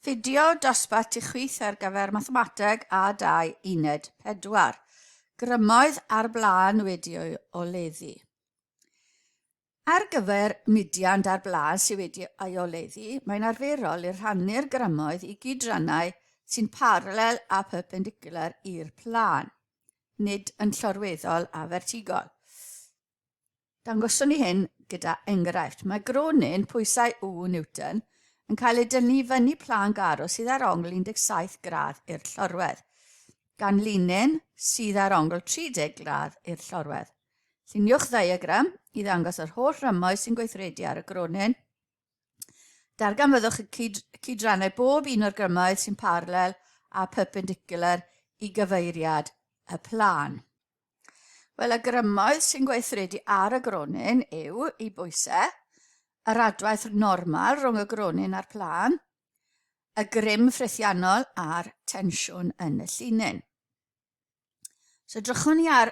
Fideo dosbarth i chwith ar gyfer Mathemateg A2 Uned 4. Grymoedd ar blaen wedi o'i oleddu. Ar gyfer mudiant ar blaen sydd wedi ei oleddu, mae'n arferol i rhannu'r grymoedd i gydrannau sy'n paralel a perpendicular i'r plân, nid yn llorweddol a fertigol. Dangoswn ni hyn gyda enghraifft. Mae gronyn pwysau U Newton yn cael ei dynnu i fyny plân garw sydd ar ongl 17 gradd i'r llorwedd, gan linyn sydd ar ongl 30 gradd i'r llorwedd. Lluniwch ddiagram i ddangos yr holl rymoedd sy'n gweithredu ar y gronyn. Darganfyddwch y cyd cydrannau bob un o'r grymoedd sy'n parallel a perpendicular i gyfeiriad y plan. Wel, y grymoedd sy'n gweithredu ar y gronyn yw i bwysau, yr adwaith normal rhwng y gronyn a'r plan, y grym ffrithiannol a'r tensiwn yn y llinyn. So drychwn ni ar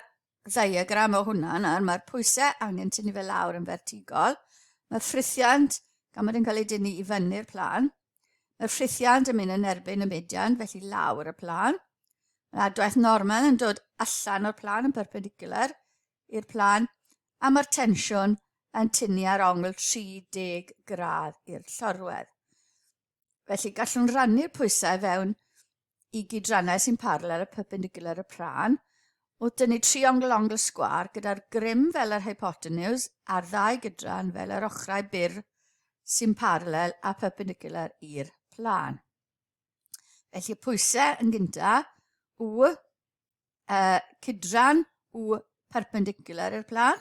ddiagram o hwnna nawr, mae'r pwysau angen tynnu fe lawr yn fertigol, mae'r ffrithiant, gan bod yn cael ei dynnu i fyny'r plan, mae'r ffrithiant yn mynd yn erbyn y median, felly lawr y plan. Mae'r adwaith normal yn dod allan o'r plan yn perpendicular i'r plan, a mae'r tensiwn yn tynnu ar ongl 30 gradd i'r llorwedd. Felly gallwn rannu'r pwysau fewn i gydrannau sy'n parallel a perpendicular y pran, wrth dynnu triongl ongl sgwar gyda'r grym fel yr hypotenws a'r ddau gydran fel yr ochrau byr sy'n parallel a perpendicular i'r plan. Felly y pwysau yn gyntaf, W uh, cydran u perpendicular i'r plan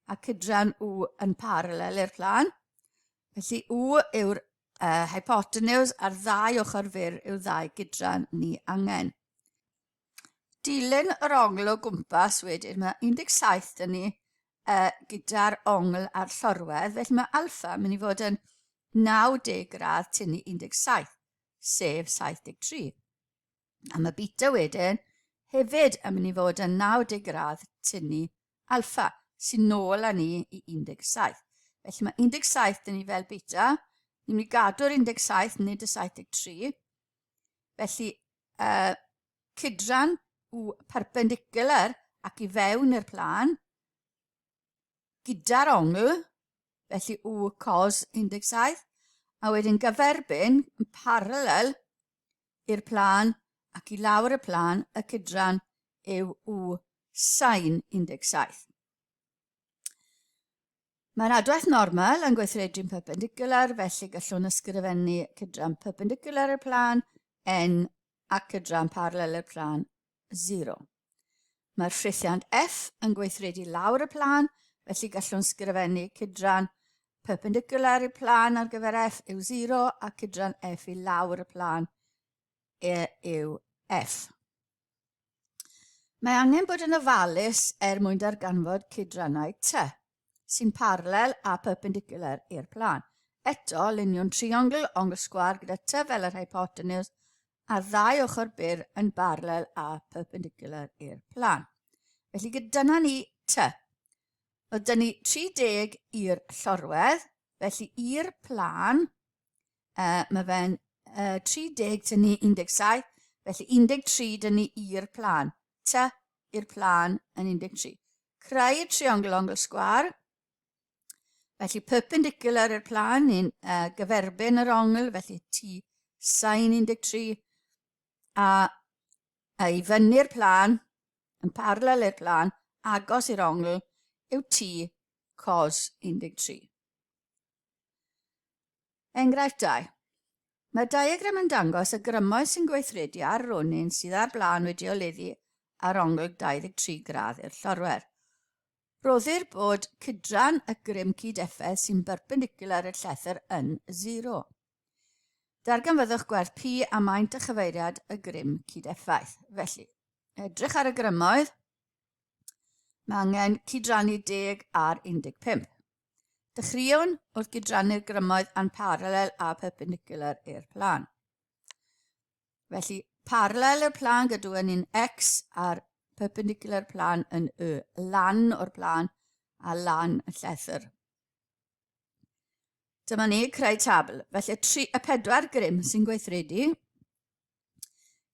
a cydran u yn parallel i'r plan. Felly u yw'r uh, hypotenuse a'r ddau ochr fyr yw ddau gydran ni angen. Dilyn yr ongl o gwmpas wedyn, mae 17 dyn ni uh, gyda'r ongl a'r llorwedd, felly mae alfa mynd i fod yn 90 gradd tynnu 17, sef 73. A mae beta wedyn hefyd yn mynd i fod yn 90 gradd tynnu alfa, sy'n nôl â ni i 17. Felly mae 17 dyn ni fel beta, ni'n mynd i gadw'r 17, nid y 73. Felly, uh, cydran u perpendicular ac i fewn i'r plan, gyda'r ongl, felly u cos 17, a wedyn gyferbyn yn parallel i'r plân ac i lawr y plân y cydran yw u sain 17. Mae'r adwaith normal yn gweithredu'n perpendicular, felly gallwn ysgrifennu cydran perpendicular i'r plân n a cydran parallel i'r plân 0. Mae'r ffrithiant F yn gweithredu lawr y plan, felly gallwn sgrifennu cydran perpendicular i'r plan ar gyfer F yw 0 a cydran F i lawr y plan e yw F. Mae angen bod yn ofalus er mwyn darganfod cydrannau T. sy'n parallel a perpendicular i'r plan. Eto, luniwn triongl ongl sgwar gyda ty fel yr hypotenws a'r ddau ochr byr yn barlel a perpendicular i'r plan. Felly gydyna ni ty. Oedd dyn ni 30 i'r llorwedd, felly i'r plan, uh, mae fe'n uh, 30 tyn ni 17, felly 13 dyn ni i'r plan. Ty i'r plan yn 13. Creu triongl ongl sgwar. Felly perpendicular i'r plan ni'n uh, gyferbyn yr ongl, felly T sain 13. A, a i fyny'r plan, yn parallel i'r plan, agos i'r ongl, yw T cos 13. Enghraifft 2. Mae'r diagram yn dangos y grymoedd sy'n gweithredu ar ronyn sydd ar blaen wedi oleddu ar ongl 23 gradd i'r llorwer. Rhoddir bod cydran y grym cyd-effaith sy'n berpendicular i'r llethr yn 0. Darganfyddwch gwerth P a maint a chyfeiriad y grym cyd-effaith. Felly, edrych ar y grymoedd, mae angen cydrannu 10 ar 15. Dechreuwn wrth gydrannu'r grymoedd a'n paralel a perpendicular i'r plan. Felly, paralel i'r plan gadw yn un x a'r perpendicular plan yn y lan o'r plan a lan y llethr. Dyma ni creu tabl. Felly, tri, y pedwar grym sy'n gweithredu,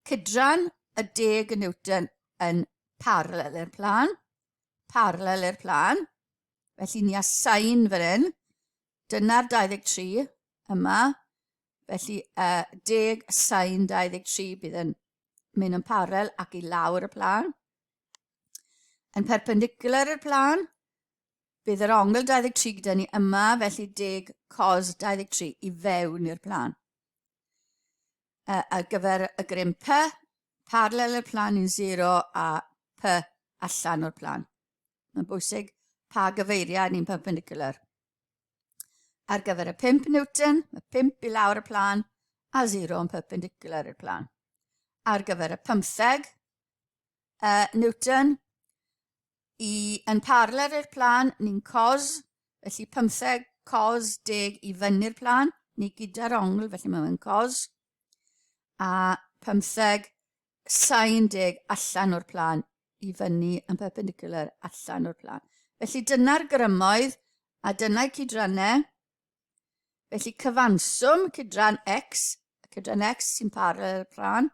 cydran y deg y Newton yn paralel i'r plan, paralel i'r plan, Felly ni a sain fan hyn. Dyna'r 23 yma. Felly uh, deg sain 23 bydd yn mynd yn parel ac i lawr y plan. Yn perpendicular i'r plan, bydd yr ongl 23 gyda ni yma, felly deg cos 23 i fewn i'r plan. Uh, ar gyfer y grym P, paralel i'r plan yn 0 a P allan o'r plan. Mae'n bwysig pa gyfeiriau ni'n perpendicular. Ar gyfer y 5 Newton, mae 5 i lawr y plan a 0 yn perpendicular i'r plan. Ar gyfer y 15 uh, Newton, i yn parler i'r plan, ni'n cos, felly 15 cos 10 i fyny'r plan, ni gyda'r ongl, felly mae'n cos a 15 allan o'r plan i fyny yn perpendicular allan o'r plan. Felly dyna'r grymoedd a dyna'i cydrannau. Felly cyfanswm cydran x, cydran x sy'n parallel plan,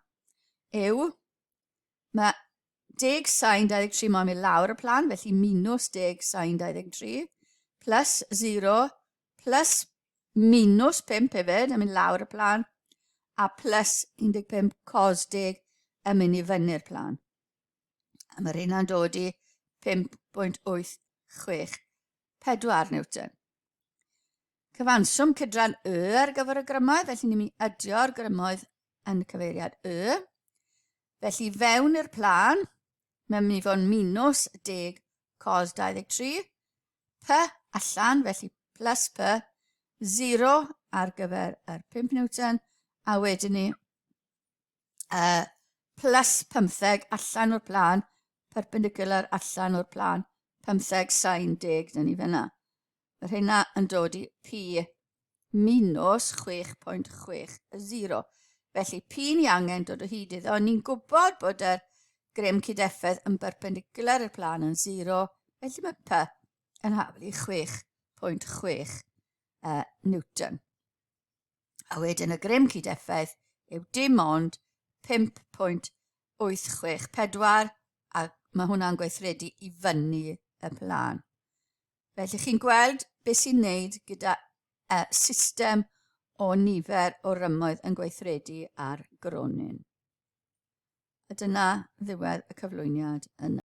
yw Mae deg sain 23 moyn mynd lawr y plan, felly minus deg sain 23, plus 0, plus minus 5 hefyd yn mynd lawr y plan, a plus 15 cos deg yn mynd i fyny'r plan. A mae'r hynna'n dod i 5.864 Newton. Cyfanswm cydran y ar gyfer y grymoedd, felly ni'n mynd i adio'r grymoedd yn y cyfeiriad y. Felly fewn i'r plan, mae'n mynd i fod yn minus 10 cos 23, p allan, felly plus p, 0 ar gyfer yr 5 Newton, a wedyn ni uh, plus 15 allan o'r plan, perpendicular allan o'r plan, 15 sain 10 dyn ni fyna. Mae rheina yn dod i P minus 6.60. Felly, P ni angen dod o hyd iddo. Ni'n gwybod bod y grym cydeffedd yn berpendicular i'r plan yn 0, felly mae P yn haflu 6.6 uh, Newton. A wedyn y grym cydeffedd yw dim ond 5.864 a mae hwnna'n gweithredu i fyny y plan. Felly chi'n gweld beth sy'n wneud gyda uh, system o nifer o rymoedd yn gweithredu ar gronyn. A dyna ddiwedd y cyflwyniad yna.